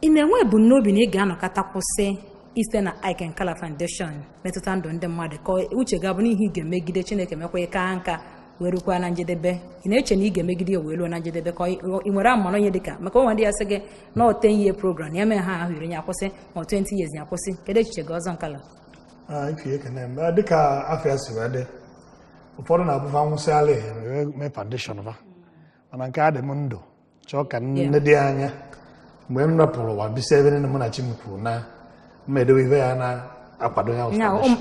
ị na-enwe ebumnobi na ị ga-anọkata kwụsị isi na ik nkala foundation metụta ndụ ndị mmadụ ka uche gị abụ na ihe ị ga-emegide chineke mekwa ka nka wee rukwa na njedebe ị na-eche na ị ga-emegide wee ruo na njedebe ka ị nwere amara onye dịka maka o nwe ndị ya-asị gị na ọ 10 year program ya mee ha afọ iri ya kwụsị ma 20 years ya kwụsị kedu echiche gị ọzọ nkala ah, ife ekene m ah, dịka afa ya si wee dị ụfọdụ na-abụ fa nwụsịala e mee foundation fa mana nke a dị m ndụ chọọ ka nne dị anya mgbe m rapụrụ ụwa bisi ebe nne m na chi m kwuru na m ga-edowe ife ya na-akwado ya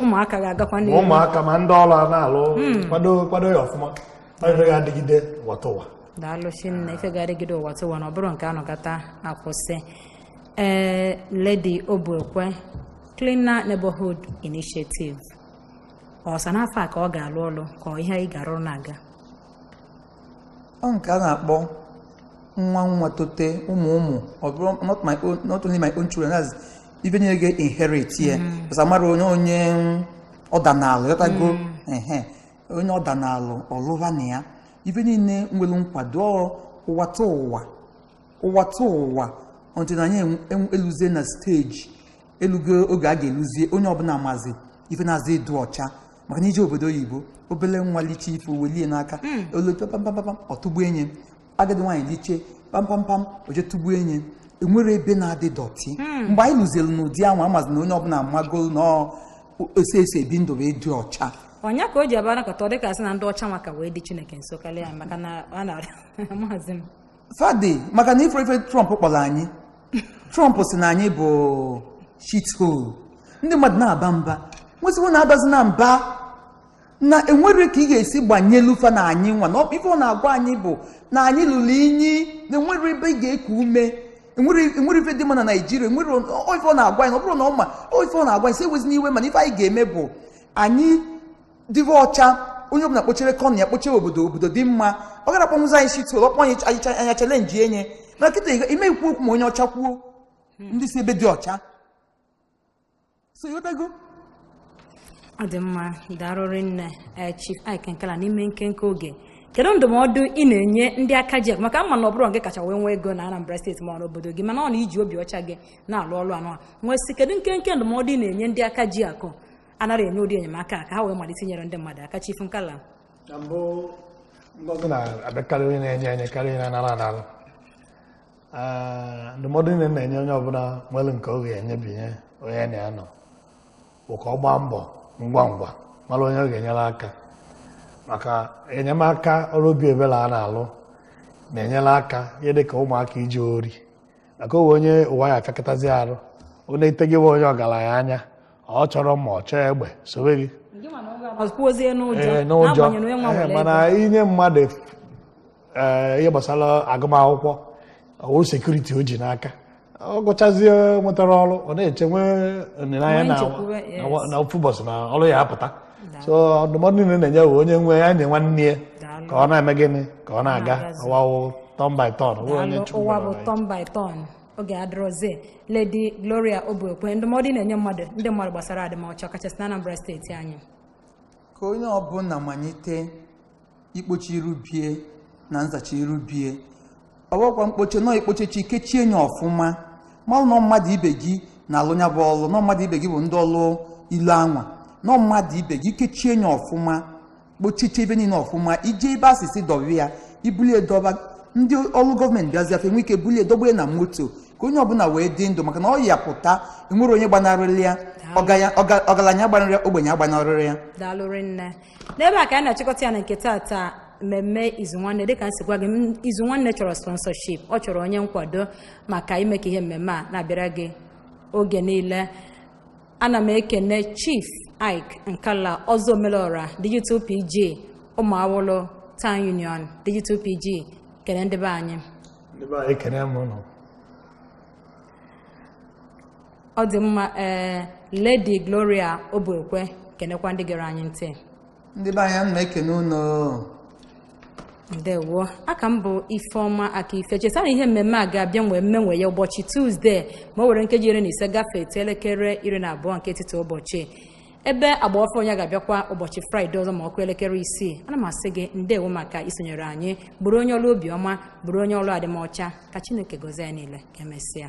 ụmụaka ga-agakwa ụmụaka ma ndị ọrụ na-alụ hmm. kwado kwado ya ọfụma ọ ife ga-adịgide ụwa tụwa daalụ chinne ife ga-adịgide ụwa tụwa na ọ bụrọ nke a nọkata a kwụsị Ee, Lady Obuekwe, Cleaner Neighborhood Initiative. Ọ sọ n'afọ a ka ọ ga-alụ ọlụ ka ọ ihe anyị ga-arụrụ na-aga. ọ nke a na-akpọ nwa nwa tote ụmụ ụmụ ọ bụrọ not my own not only my own children as ibe niile ga inherit ya because amarọ onye onye ọ danalụ yọta ego ehe onye ọ danalụ ọ lụva na ya ife niile nwere nkwado ọ ụwa ta ụwa ụwatụwa until na anyị eluzie na steji elugo oge a ga-eluzie onye ọbụla mazi ife na-aza ịdụ ọcha maka na i je obodo oyibo obele nwa liche ife welie n'aka hmm. o lute pampampam ọ tụgbu enye agadi nwaanyị liche pampampam o je tụgbu enye enwerọ ebe na-adị dọtị hmm. mgbe anyị luzielu n'ụdị ahụ amazi na onye ọbụla amago na ose ese ebi ndụ wee dị ọcha ọ nya ka o ji abara kọta ọ dịka a sị na ndị ọcha maka wee dị Chineke nso karịa maka na a na maazị m fa dị maka na ife ife Trump kpọrọ anyị Trump sị na anyị bụ shithole ndị mmadụ na-aba mba m wee sị wo na abazina mba na enwerọ ka ị ga-esi gbanyelu fa na anyị nwa na ọ bụ ife ọ na-agwa anyị bụ na anyị lụrụ inyi na enwerọ ebe ị ga-eku ume enwerọ enwerọ ife dị mma na naijiria enwere ọ- ife ọ na-agwa anyị na ọ bụrọ na ọ marọ ife ọ na-agwa anyị sị ewezina iwe mana ife anyị ga-eme bụ anyị dịbe ọcha onye ọbụla kpochere kọnụ ya kpochere obodo obodo dị mma ọ garọ akpọnwuzi anyị shithole ọ kpọ anyị chalenji enye na kịta ime ikwu okwu ma onye ọcha kwuo hmm. ndị si ebe dị ọcha so ịghọtago ọ dị mma daalụ rinne eh, Chief Ike Nkala n'ime nkenke oge kedu ndụmọdụ ị na-enye ndị aka ji akụ maka m ma na ọ bụrọ ngị kacha wee nwee ego na Anambra steeti ma ọ n'obodo gị mana ọ na i ji obi ọcha gị na-alụ ọrụ anwa m wee sị kedu nkenke ndụmọdụ ị na-enye ndị aka ji akụ anaghị enye ụdị enyemaka a ka ha wee malite inyere ndị mmadụ aka Chief Nkala na mbụ ngọzi na-abịakarị onye na-enye enye karịa onye na-anara anara Ee, ndụmọdụ niile m na-enye onye ọbụla nwere nke ọ ga-enyebinye onye na ya nọ bụ ka ọ gbaa mbọ ngwa ngwa mara onye ọ ga-enyere aka maka enyemaka ọrụ obi ebere a na-alụ na-enyere aka ihe dị ka ụmụaka ije ori maka ogbenye ụwa ya afịakọtazi arụ ọ na-etegewe onye ọgaranya anya ọ chọrọ mma ọ chọọ egbe sowe gị kwuozie Ee, n'ụjọ n'ụjọ n'agbanyeghị na onye nwa Ee, nwere mana ego. i nye mmadụ ee, ihe gbasara agụmakwụkwọ ọ wụrụ sekuriti o ji n'aka ọ gụchazie nwetarọ ọrụ ọ na-eche nwee olileanya Nwee na- nchekwube, yes. na wa- na ofu ụbọchị na ọrụ ya apụta so ndụmọdụ niile m na-enye bụ onye nwe ya nye nwanne ya Daalụ. ka ọ na-eme gịnị ka ọ na-aga Na-agazi. ụwa wụ turn by turn Daalụ, ụwa bụ turn by turn oge adịrọzi Lady Gloria Obuekwe ndụmọdụ ị na-enye mmadụ ndị mmadụ gbasara adịmọcha ọkachasị na Anambra steeti anyị ka onye ọbụla malite ikpocha iru bie na nzacha iru bie ọ bụkwa mkpocha nọ i kpochechi kechie nye ọfụma malụ na ọ mmadụ ibe gị na-alụ ya bụ ọlụ na ọ mmadụ ibe gị bụ ndị ọlụ ilu anwa na ọ mmadụ ibe gị kechie nye ọfụma kpochiche ife niile ọfụma i je ebe a sị sị dọwa ya i bulie dọba ndị ọrụ gọọmenti bịazia fa enwe ike bulie dọgbue na moto ka onye ọbụla wee dị ndụ maka na ọya pụta enwerọ onye gbanarịrị ya ọgaya- ọga- ọgaranya agbanarị ya ogbenye agbanarịrị ya daalụ rinne n'ebe a ka anyị na-achịkọta ya na nke tata mmemme izu nwanne dịka m si gwa gị m- izu nwanne chọrọ sponsorship ọ chọrọ onye nkwado maka ime ka ihe mmemme a na-abịara gị oge niile ana m ekene chief ike nkala ọzọ omelọra digital pg ụmụawụlụ town union digital pg kene ndị be anyị ndị be anyị ekene m ụnụ ọ dị mma ee lady gloria obuekwe kenekwa ndị gere anyị ntị ndị be anyị ana m ekene ụnụ ndewo aka m bụ ifeọma akaife cheta na ihe mmemme a ga-abịa nwee mmenwe ya ụbọchị tuzdee ma o were nkeji iri na ise gafee etu elekere iri na abụọ nke etiti ụbọchị ebe agba ọfụụ ya ga-abịakwa ụbọchị fraịde ọzọ ma ọ kụọ elekere isii ana m asị gị ndewo maka isonyere anyị bụrụ onye ọrụ obiọma bụrụ onye ọrụ adịmọcha ka chineke gozie anyị niile ka emesịa